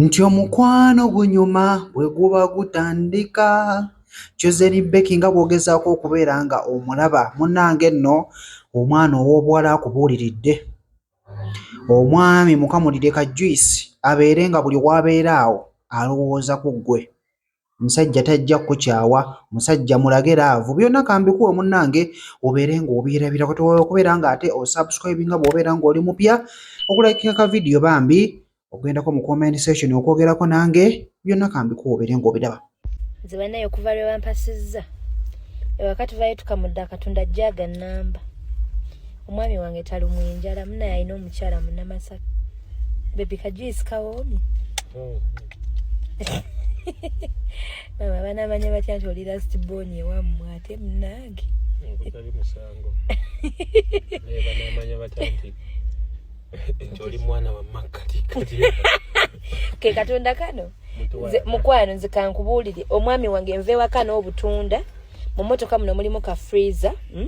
Nti omukwano gunyuma bwe guba gutandika. Chosen Becky nga bw'ogezaako okubeera nga omulaba munnange nno omwana ow'obuwala akubuuliridde. Omwami mukamulire ka juyisi abeere nga buli w'abeera awo alowooza ku ggwe. musajja tajja kukyawa musajja mulage laavu byonna kambikuwe munnange obeere ng'obirabira kati woyo okubeera ng'ate osubscribe nga bw'obeera ng'oli mupya okulakinga ka vidiyo bambi okugendako mu comment session okwogerako nange byonna kambikuwe obeere ng'obiraba nze banaye okuva lwe bampasizza ewaka tuvayo tukamudde akatunda jaga namba omwami wange talumwa enjala munaye alina omukyala munamasaka bebi kajuisi kawoomi oh. mama banamanya batya nti oli last bon ewammwe ate munange ke katonda kano mukwano nze kankubuulire omwami wange nva ewaka n'obutunda mu motoka muno mulimu ka freezer hmm?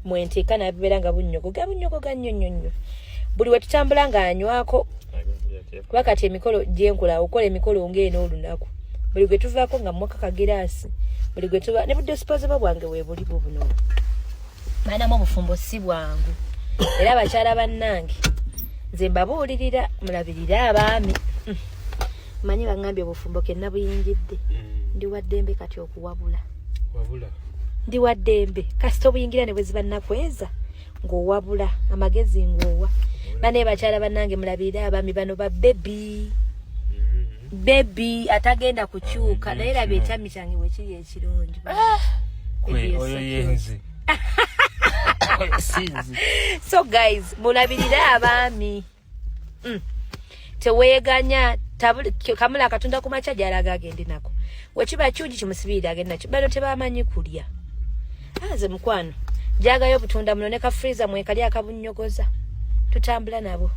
mwenteeka nabibeera nga bunyogoga bunyogoga nnyo nnyo nnyo buli wetutambula nga anywako kuba kati emikolo gyenkola okola emikolo ngaeno olunaku buli gwe tuvaako nga mwaka kagiraasi buli gwe tuba ne budisposable bwange webuli bubuno maanamu obufumbo si bwangu era abakyala bannange nze mbabuulirira mulabirire abaami hmm. manye bangambye obufumbo ke nabuyingidde mm. ndi waddembe kati okuwabula wabula ndi waddembe kasita obuyingira ne bweziba nakweza ng'owabula amagezi ng'owa bane bakyala banange mulabirire abaami bano ba bebi mm-hmm. bebi atagenda kukyuka naye laba ekyami kyange wekiri ekirungi ah! oyo yenze so guys mulabirire abaami mm. teweganya kamula akatunda ku makya gyalaga agende nako wekiba kyugi kimusibirira agende nakyo bano tebamanyi kulya aze ah, mukwano jagayo obutunda muno ne kafriza mwekali akabunnyogoza tutambula nabo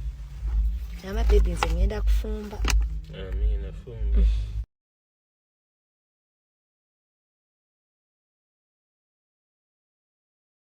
amabebi nze ngenda kufumba Amina, fumba. Mm.